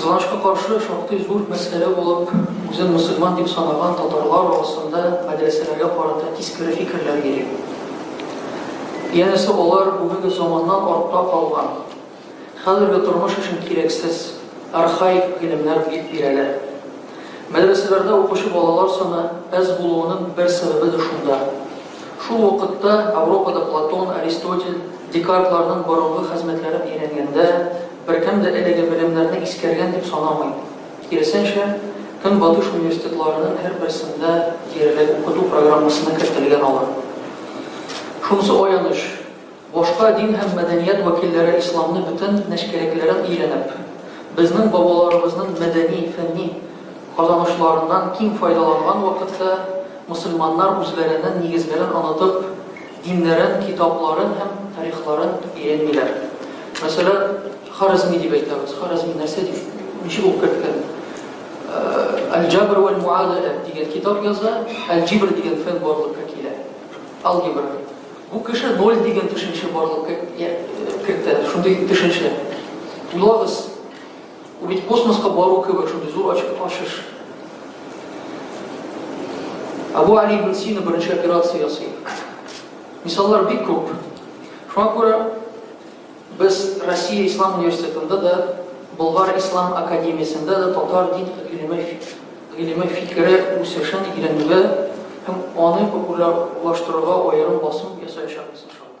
Кызганычка каршы, шактый зур мәсьәлә булып, үзен мөселман дип санаган татарлар арасында мәдрәсәләргә карата тискәре фикерләр йөри. Янәсе, алар бүгенге заманнан артта калган, хәзерге тормыш өчен кирәксез, архаик гыйлемнәр дип бирәләр. Мәдрәсәләрдә укучы балалар саны әз булуының бер сәбәбе дә шунда. Шул вакытта Ауропада Платон, Аристотель, Декартларның борынгы хәзмәтләрен өйрәнгәндә, беркем дә әлеге белемнәрне искәргән дип санамый. Киресенчә, Көнбатыш университетларының һәрберсендә диярлек укыту программасына кертелгән алар. Шунысы аяныч. Башка дин һәм мәдәният вәкилләре исламны бөтен нечкәлекләрен өйрәнеп, безнең бабаларыбызның мәдәни, фәнни казанышларыннан киң файдаланган вакытта, мөселманнар үзләренең нигезләрен онытып, диннәрен, китапларын һәм тарихларын өйрәнмиләр. Мәсәлән, Харәзми дип әйтәбез. Харәзми нәрсә дип, ничек укып киткән? Әл-Җәбр вәл Муадәлә дигән китап яза, әл-Җибр дигән фән барлыкка килә. Алгебра. Бу кеше ноль дигән төшенчә барлыкка кертә, шундый төшенчә. Уйлагыз, бу бит космоска бару кебек шундый зур ачыш. Абу Али ибн Сина беренче операция ясый. Мисаллар бик күп. Шуңа күрә Без Россия Ислам университетында да, Болгар Ислам академиясендә дә татар дин гыйлеме, гыйлеме фикере үсешен өйрәнүгә һәм аны популярлаштыруга аерым басым ясаячакбыз, иншалла.